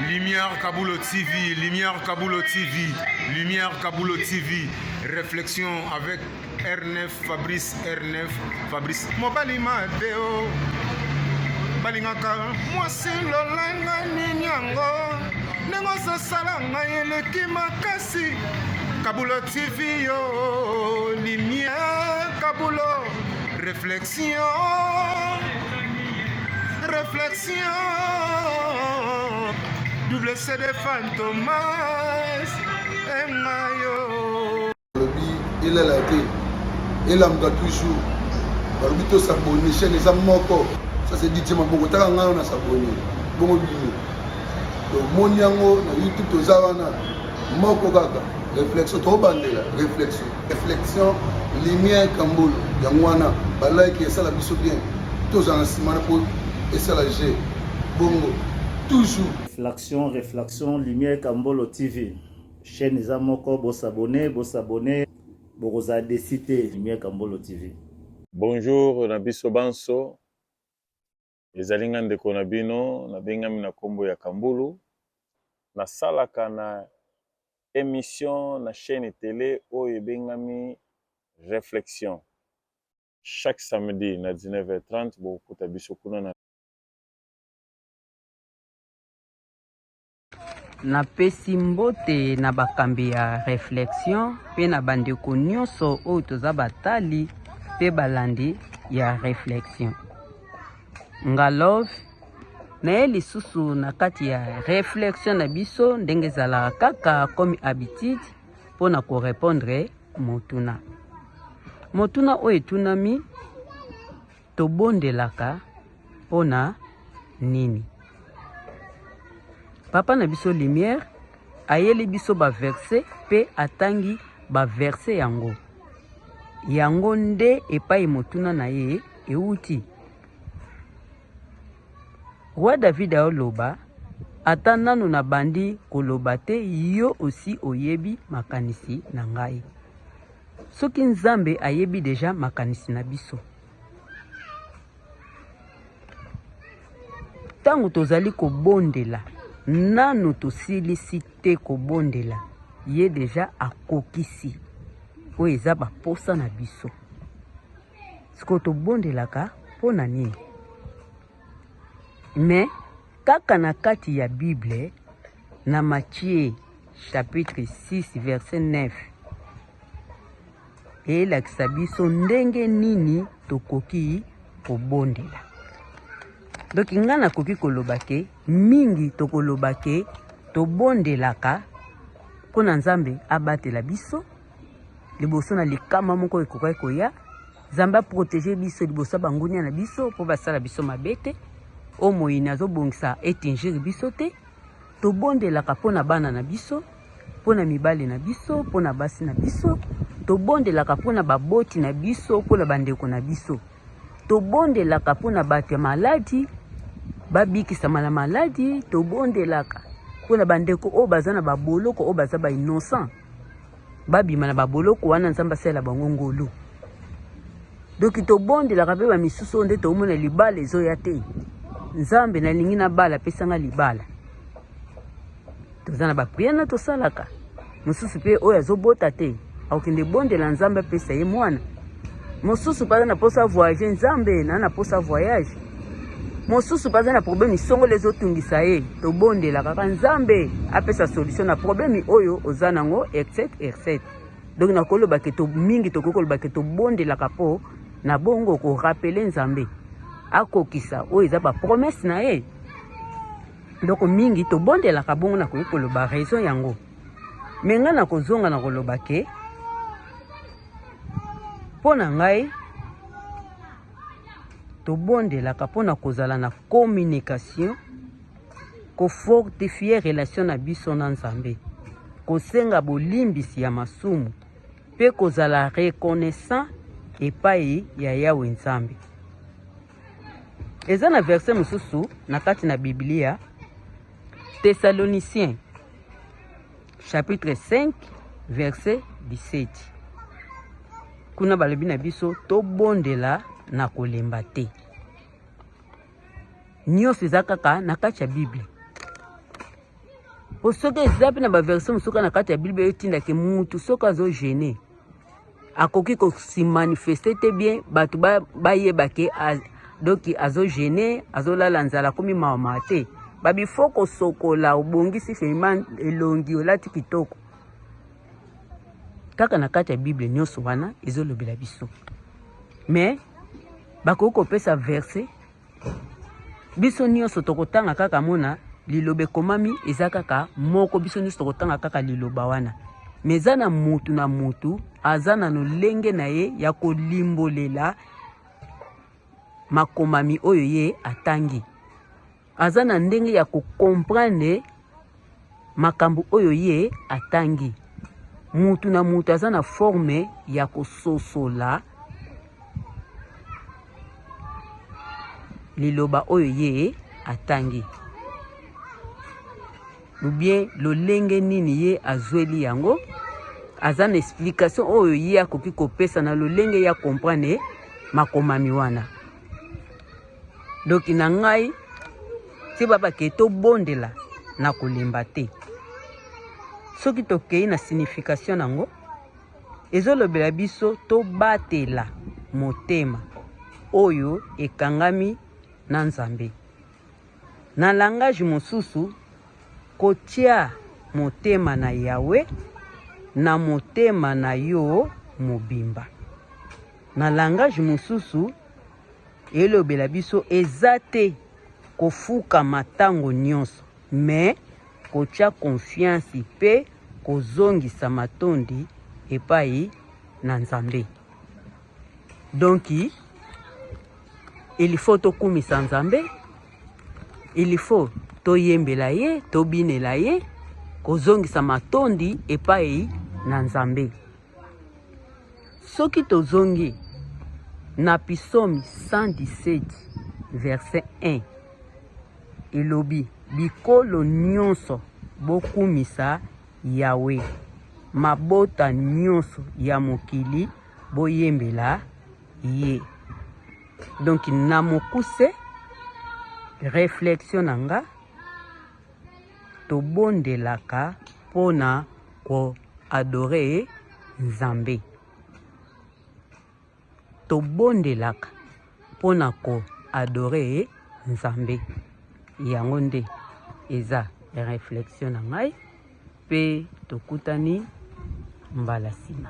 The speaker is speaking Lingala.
Lumière Kabulo TV, Lumière Kabulo TV, Lumière Kabulo TV, réflexion avec R9, Fabrice R9, Fabrice. Mobali Mateo, balingaka mwasi lolanga nini yango ndenge ozosala ngai eleki makasi Kabulo TV yo, Lumière Kabulo, réflexion. Réflexion, double CD Fantomas, et Mayo. Il est là, il est là, toujours. balobi tosabone chaine eza moko ça c'est dit tima bongo taka ngai na sabone bongo bino tomoni yango na youtube toza wana moko kaka réflexion tobandela réflexion reflexion lumière kambolo yango wana balike esala biso bien tozala na nsima na po esala je bongo toujours reflexion reflexion lumière kambolo tv chaîne eza moko bosabone bosabone bokozala desi te lumière kambolo tv bonjour na biso banso Ezali nga ndeko na bino na bengami na kombo ya Kambulu. Na salaka na emission na chaîne tele oyo ebengami Reflexion. Chaque samedi na 19h30 bokokuta biso kuna na Napesi mbote na bakambi ya reflexion mpe na bandeko nyonso oyo toza batali mpe balandi ya reflexion. Ngalove naye lisusu na kati ya reflexion na biso ndenge ezalaka kaka comme habitude mpo na korepondre motuna motuna oyo etunami Tobondelaka mpo na nini? Papa na biso Lumière ayeli biso ba verse mpe atangi ba verse yango. Yango nde epai motuna na ye euti. Roi David aoloba ata nano nabandi koloba te yo osi oyebi makanisi na ngai. Soki Nzambe ayebi deja makanisi na biso, ntango tozali kobondela, nano tosilisi te kobondela, ye deja akokisi oyo eza baposa na biso. Sikoyo tobondelaka mpo na nini? Mais kaka na kati ya Bible na Matthieu chapitre 6 verset 9 elakisa biso ndenge nini tokoki kobondela. Donc nga nakoki koloba ke mingi tokoloba ke tobondelaka mpo na Nzambe abatela biso liboso na likama moko ekokaki koya Nzambe a proteger biso liboso ya bangunia na biso mpo basala biso mabe te. Oyo moyini azobongisa etingir biso te. Tobondelaka mpo na bana na biso, mpo na mibali na biso, mpo na basi na biso. Tobondelaka mpo na baboti na biso, mpo na bandeko na biso. Tobondelaka mpo na bato ya maladi, babikisama na maladi. Tobondelaka mpo na bandeko oyo baza na baboloko, oyo baza ba innocent. Babima na baboloko wana, Nzambe asalela bango ngolu. Doki tobondelaka mpe bamisusu oyo nde toomona libala ezoya te. Nzambe, nalingi na bala, pesanga libala. Toza na bapriere na tosalaka. Mosusu mpe oyo azobota te akokende bondela Nzambe apesa ye mwana. Mosusu mpe aza na posa voyage, Nzambe na na posa voyage. mosusu baza na problème isongolo ezotungisa ye tobondela kaka nzambe apesa solution na problème oyo oza nango etc etc donc nakoloba ke to mingi tokoki koloba ke tobondelaka mpo na bongo korapele nzambe akokisa oyo eza bapromese na ye donc mingi tobondelaka bongo nakoki koloba raison yango me ngai nakozonga na koloba ke mpo na ngai tobondelaka mpo na kozala na communication kofortifie relation na biso na nzambe kosenga bolimbisi ya masumu mpe kozala reconnaissant epai ya yawe nzambe eza na verse mosusu na kati na biblia thessaloniciens chapitre 5 verset 17 kuna balobi na biso tobondela na kolemba te nyonso eza kaka na kati ya biblia po soki eza mpe na baversion mosuka na kati ya biblia etindaki mutu soki azogene akoki ko si manifester te bien bato bayeba ke donc azo gene azolala nzala akomi mawa mawa te babi fo kosokola obongisi firima elongi olati kitoko kaka na kati ya bible nyonso wana ezolobela biso mais bakoki kopesa verse biso nyonso tokotanga kaka mona liloba ekomami eza kaka moko biso nyonso tokotanga kaka liloba wana me eza na mutu na mutu aza na lolenge na ye ya kolimbolela makomami oyo ye atangi aza na ndenge ya kokomprendre makambo oyo ye atangi mutu na mutu aza na forme ya kososola liloba oyo ye atangi ubien lolenge nini ye azweli yango aza na explication oyo ye akoki kopesa na lolenge ya comprendre makomami wana ndoki na ngai ti babake tobondela na kolemba te soki tokei na signification yango ezolobela biso tobatela motema oyo ekangami na nzambe na langage mosusu kotia motema na yawe na motema na yo mobimba na langage mosusu elobela biso eza te kofukama ntango nyonso me kotya konfiansi mpe kozongisa matondi epai na nzambe donki ilifo tokumisa nzambe ilifo toyembela ye tobinela ye kozongisa matondi epai na nzambe soki tozongi na pisomi 117 verset 1 elobi bikolo nyonso bokumisa yawe mabota nyonso ya mokili boyembela ye donk na mokuse reflexion na nga Tobondelaka mpo na ko adorer Nzambe. Tobondelaka mpo na ko adorer Nzambe. Yango nde eza reflexion na ngai mpe tokutani mbala nsima.